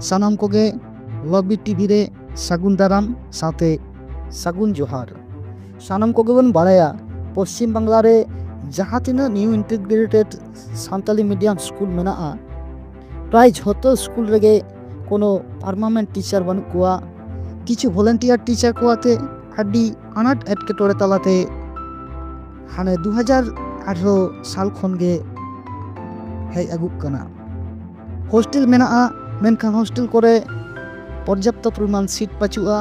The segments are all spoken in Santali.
ᱥᱟᱱᱟᱢ ᱠᱚᱜᱮ ᱞᱚᱵᱤ ᱴᱤᱵᱷᱤ ᱨᱮ ᱥᱟᱹᱜᱩᱱ ᱫᱟᱨᱟᱢ ᱥᱟᱶᱛᱮ ᱥᱟᱹᱜᱩᱱ ᱡᱚᱦᱟᱨ ᱥᱟᱱᱟᱢ ᱠᱚᱜᱮ ᱵᱚᱱ ᱵᱟᱲᱟᱭᱟ ᱯᱚᱥᱪᱤᱢ ᱵᱟᱝᱞᱟ ᱨᱮ ᱡᱟᱦᱟᱸ ᱛᱤᱱᱟᱹᱜ new integrated Santali medium school ᱢᱮᱱᱟᱜᱼᱟ ᱯᱨᱟᱭ ᱡᱷᱚᱛᱚ ᱥᱠᱩᱞ ᱨᱮᱜᱮ ᱠᱳᱱᱳ ᱯᱟᱨᱢᱟᱱᱮᱱᱴ ᱴᱤᱪᱟᱨ ᱵᱟᱹᱱᱩᱜ ᱠᱚᱣᱟ ᱠᱤᱪᱷᱩ ᱵᱷᱚᱞᱮᱱᱴᱤᱭᱟᱨ ᱴᱤᱪᱟᱨ ᱠᱚ ᱟᱛᱮ ᱟᱹᱰᱤ ᱟᱱᱟᱴ ᱮᱴᱠᱮᱴᱚᱬᱮ ᱛᱟᱞᱟᱛᱮ ᱦᱟᱱᱮ ᱫᱩ ᱦᱟᱡᱟᱨ ᱟᱴᱷᱨᱚ ᱥᱟᱞ ᱠᱷᱚᱱ ᱜᱮ ᱦᱮᱡ ᱟᱹᱜᱩᱜ ᱠᱟᱱᱟ ᱦᱳᱥᱴᱮᱞ ᱢᱮᱱᱟᱜᱼᱟ ᱢᱮᱱᱠᱷᱟᱱ ᱦᱳᱥᱴᱮᱞ ᱠᱚᱨᱮ ᱯᱚᱨᱡᱟᱯᱛᱚ ᱯᱚᱨᱤᱢᱟᱱ ᱥᱤᱴ ᱯᱟᱹᱪᱩᱜᱼᱟ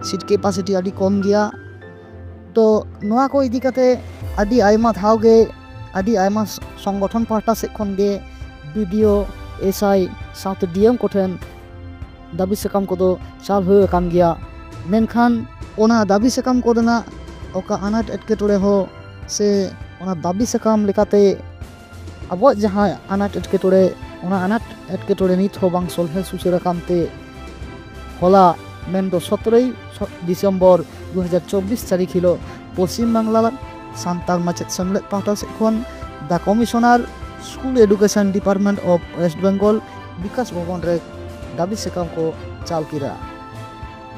ᱥᱤᱴ ᱠᱮᱯᱟᱥᱤᱴᱤ ᱟᱹᱰᱤ ᱠᱚᱢ ᱜᱮᱭᱟ ᱛᱚ ᱱᱚᱣᱟ ᱠᱚ ᱤᱫᱤ ᱠᱟᱛᱮ ᱟᱹᱰᱤ ᱟᱭᱢᱟ ᱫᱷᱟᱣ ᱜᱮ ᱟᱹᱰᱤ ᱟᱭᱢᱟ ᱥᱚᱝᱜᱚᱴᱷᱚᱱ ᱯᱟᱦᱴᱟ ᱥᱮᱫ ᱠᱷᱚᱱ ᱜᱮ ᱵᱤᱰᱤᱭᱳ ᱮᱥᱟᱭ ᱥᱟᱶᱛᱮ ᱰᱤᱮᱢ ᱠᱚᱴᱷᱮᱱ ᱫᱟᱹᱵᱤ ᱥᱟᱠᱟᱢ ᱠᱚᱫᱚ ᱪᱟᱞ ᱦᱩᱭ ᱟᱠᱟᱱ ᱜᱮᱭᱟ ᱢᱮᱱᱠᱷᱟᱱ ᱚᱱᱟ ᱫᱟᱹᱵᱤ ᱥᱟᱠᱟᱢ ᱠᱚᱨᱮᱱᱟᱜ ᱚᱠᱟ ᱟᱱᱟᱴ ᱮᱴᱠᱮᱴᱚᱬᱮ ᱦᱚᱸ ᱥᱮ ᱚᱱᱟ ᱫᱟᱹᱵᱤ ᱥᱟᱠᱟᱢ ᱞᱮᱠᱟᱛᱮ ᱟᱵᱚᱣᱟᱜ ᱡᱟᱦᱟᱸ ᱟᱱᱟᱴ ᱮᱴᱠᱮᱴᱚᱬᱮ ᱚᱱᱟ ᱟᱱᱟᱴ ᱮᱴᱠᱮᱴᱚᱬᱮ ᱱᱤᱛ ᱦᱚᱸ ᱵᱟᱝ ᱥᱚᱞᱦᱮ ᱥᱩᱥᱟᱹᱨ ᱟᱠᱟᱱ ᱛᱮ ᱦᱚᱞᱟ ᱢᱮᱱᱫᱚ ᱥᱚᱛᱨᱚᱭ ᱰᱤᱥᱮᱢᱵᱚᱨ ᱫᱩ ᱦᱟᱡᱟᱨ ᱪᱚᱵᱽᱵᱤᱥ ᱛᱟᱹᱨᱤᱠᱷ ᱦᱤᱞᱳᱜ ᱯᱚᱥᱪᱤᱢ ᱵᱟᱝᱞᱟ ᱥᱟᱱᱛᱟᱲ ᱢᱟᱪᱮᱫ ᱥᱮᱢᱞᱮᱫ ᱯᱟᱦᱴᱟ ᱥᱮᱫ ᱠᱷᱚᱱ ᱫᱟ commissioner school education department of West Bengal Bikash Bhavan ᱨᱮ ᱫᱟᱹᱵᱤ ᱥᱟᱠᱟᱢ ᱠᱚ ᱪᱟᱞ ᱠᱮᱫᱟ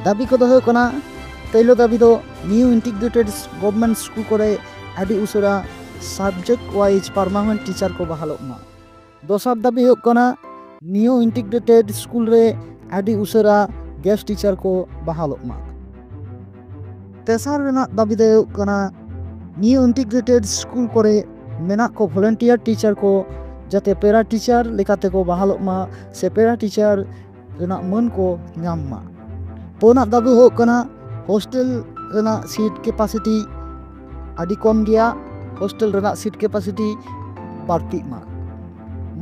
ᱫᱟᱹᱵᱤ ᱠᱚᱫᱚ ᱦᱩᱭᱩᱜ ᱠᱟᱱᱟ ᱯᱳᱭᱞᱳ ᱫᱟᱹᱵᱤ ᱫᱚ ᱱᱤᱭᱩ ᱤᱱᱴᱤᱜᱨᱮᱴᱮᱰ ᱜᱚᱵᱷᱢᱮᱱᱴ ᱥᱠᱩᱞ ᱠᱚᱨᱮ ᱟᱹᱰᱤ ᱩᱥᱟᱹᱨᱟ ᱥᱟᱵᱡᱮᱠᱴ ᱣᱟᱭᱤᱡ ᱯᱟᱨᱢᱟᱱᱮᱱᱴ ᱴᱤᱪᱟᱨ ᱠᱚ ᱵᱟᱦᱟᱞᱚᱜ ᱢᱟ ᱫᱚᱥᱟᱨ ᱫᱟᱹᱵᱤ ᱦᱩᱭᱩᱜ ᱠᱟᱱᱟ ᱱᱤᱭᱩ ᱤᱱᱴᱤᱜᱨᱮᱴᱮᱰ ᱥᱠᱩᱞ ᱨᱮ ᱟᱹᱰᱤ ᱩᱥᱟᱹᱨᱟ ᱜᱮᱥᱴ ᱴᱤᱪᱟᱨ ᱠᱚ ᱵᱟᱦᱟᱞᱚᱜ ᱢᱟ ᱛᱮᱥᱟᱨ ᱨᱮᱱᱟᱜ ᱫᱟᱹᱵᱤ ᱫᱚ ᱦᱩᱭᱩᱜ ᱠᱟᱱᱟ ᱱᱤᱭᱩ ᱤᱱᱴᱤᱜᱨᱮᱴᱮᱰ ᱥᱠᱩᱞ ᱠᱚᱨᱮ ᱢᱮᱱᱟᱜ ᱠᱚ ᱵᱷᱚᱞᱮᱱᱴᱤᱭᱟᱨ ᱴᱤᱪᱟᱨ ᱠᱚ ᱡᱟᱛᱮ ᱯᱮᱨᱟ ᱴᱤᱪᱟᱨ ᱞᱮᱠᱟᱛᱮ ᱠᱚ ᱵᱟᱦᱟᱞᱚᱜ ᱢᱟ ᱥᱮ ᱯᱮᱨᱟ ᱴᱤᱪᱟᱨ ᱨᱮᱱᱟᱜ ᱢᱟᱹᱱ ᱠᱚ ᱧᱟᱢ ᱢᱟ ᱯᱩᱱᱟᱜ ᱫᱟᱹᱵᱤ ᱦᱩᱭᱩᱜ ᱠᱟᱱᱟ ᱦᱳᱥᱴᱮᱞ ᱨᱮᱱᱟᱜ ᱥᱤᱴ ᱠᱮᱯᱟᱥᱤᱴᱤ ᱟᱹᱰᱤ ᱠᱚᱢ ᱜᱮᱭᱟ ᱦᱳᱥᱴᱮᱞ ᱨᱮᱱᱟᱜ ᱥᱤᱴ ᱠᱮᱯᱟᱥᱤᱴᱤ ᱵᱟᱹᱲᱛᱤᱜ ᱢᱟ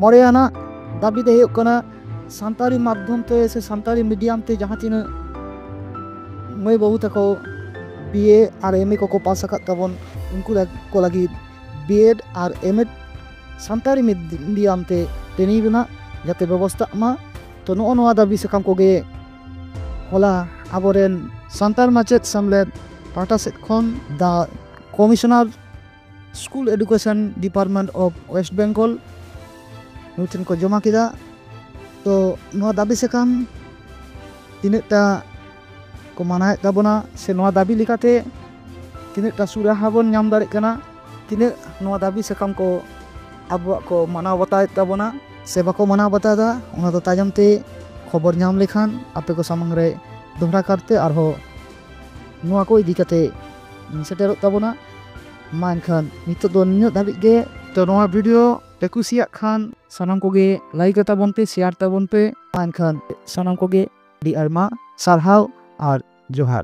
ᱢᱚᱬᱮ ᱟᱱᱟᱜ ᱫᱟᱹᱵᱤ ᱫᱚ ᱦᱩᱭᱩᱜ ᱠᱟᱱᱟ ᱥᱟᱱᱛᱟᱲᱤ ᱢᱟᱫᱽᱫᱷᱚᱢ ᱛᱮ ᱥᱮ ᱥᱟᱱᱛᱟᱲᱤ ᱢᱤᱰᱤᱭᱟᱢ ᱛᱮ ᱡᱟᱦᱟᱸ ᱛᱤᱱᱟᱹᱜ ᱢᱟᱹᱭ ᱵᱟᱹᱵᱩ ᱛᱟᱠᱚ ᱵᱤ ᱮ ᱟᱨ ᱮᱢ ᱮ ᱠᱚᱠᱚ ᱯᱟᱥ ᱟᱠᱟᱫ ᱛᱟᱵᱚᱱ ᱩᱱᱠᱩ ᱠᱚ ᱞᱟᱹᱜᱤᱫ ᱵᱤ ᱮᱰ ᱟᱨ ᱮᱢ ᱮᱰ ᱥᱟᱱᱛᱟᱲᱤ ᱢᱤᱰᱤᱭᱟᱢ ᱛᱮ ᱴᱨᱮᱱᱤᱝ ᱨᱮᱱᱟᱜ ᱡᱟᱛᱮ ᱵᱮᱵᱚᱥᱛᱟᱜ ᱢᱟ ᱛᱚ ᱱᱚᱜᱼᱚ ᱱᱚᱣᱟ ᱫᱟᱹᱵᱤ ᱥᱟᱠᱟᱢ ᱠᱚᱜᱮ ᱦᱚᱞᱟ ᱟᱵᱚᱨᱮᱱ ᱥᱟᱱᱛᱟᱲ ᱢᱟᱪᱮᱫ ᱥᱮᱢᱞᱮᱫ ᱯᱟᱦᱴᱟ ᱥᱮᱫ ᱠᱷᱚᱱ ᱫᱟ commissioner school education department of West Bengal ᱱᱩᱭ ᱴᱷᱮᱱ ᱠᱚ ᱡᱚᱢᱟ ᱠᱮᱫᱟ ᱛᱚ ᱱᱚᱣᱟ ᱫᱟᱹᱵᱤ ᱥᱟᱠᱟᱢ ᱛᱤᱱᱟᱹᱜᱴᱟ ᱠᱚ ᱢᱟᱱᱟᱣᱮᱫ ᱛᱟᱵᱚᱱᱟ ᱥᱮ ᱱᱚᱣᱟ ᱫᱟᱹᱵᱤ ᱞᱮᱠᱟᱛᱮ ᱛᱤᱱᱟᱹᱜᱴᱟ ᱥᱩᱨᱟᱦᱟ ᱵᱚᱱ ᱧᱟᱢ ᱫᱟᱲᱮᱜ ᱠᱟᱱᱟ ᱛᱤᱱᱟᱹᱜ ᱱᱚᱣᱟ ᱫᱟᱹᱵᱤ ᱥᱟᱠᱟᱢ ᱠᱚ ᱟᱵᱚᱣᱟᱜ ᱠᱚ ᱢᱟᱱᱟᱣ ᱵᱟᱛᱟᱣᱮᱫ ᱛᱟᱵᱚᱱᱟ ᱥᱮ ᱵᱟᱠᱚ ᱢᱟᱱᱟᱣ ᱵᱟᱛᱟᱣᱫᱟ ᱚᱱᱟ ᱫᱚ ᱛᱟᱭᱚᱢ ᱛᱮ ᱠᱷᱚᱵᱚᱨ ᱧᱟᱢ ᱞᱮᱠᱷᱟᱱ ᱟᱯᱮ ᱠᱚ ᱥᱟᱢᱟᱝ ᱨᱮ ᱫᱚᱦᱲᱟ ᱠᱟᱨᱛᱮ ᱟᱨᱦᱚᱸ ᱱᱚᱣᱟ ᱠᱚ ᱤᱫᱤ ᱠᱟᱛᱮ ᱥᱮᱴᱮᱨᱚᱜ ᱛᱟᱵᱚᱱᱟ ᱢᱟ ᱮᱱᱠᱷᱟᱱ ᱱᱤᱛᱚᱜ ᱫᱚ ᱱᱤᱱᱟᱹᱜ ᱫᱷᱟᱹᱵᱤᱡ ᱜᱮ ᱛᱚ ᱱᱚᱣᱟ ᱵᱷᱤᱰᱤᱭᱳ ᱯᱮ ᱠᱩᱥᱤᱭᱟᱜ ᱠᱷᱟᱱ ᱥᱟᱱᱟᱢ ᱠᱚᱜᱮ ᱞᱟᱭᱤᱠ ᱛᱟᱵᱚᱱ ᱯᱮ ᱥᱮᱭᱟᱨ ᱛᱟᱵᱚᱱ ᱯᱮ ᱢᱟ ᱮᱱᱠᱷᱟᱱ ᱥᱟᱱᱟᱢ ᱠᱚᱜᱮ ᱟᱹᱰᱤ ᱟᱭᱢᱟ ᱥᱟᱨᱦᱟᱣ ᱟᱨ ᱡᱚᱦᱟᱨ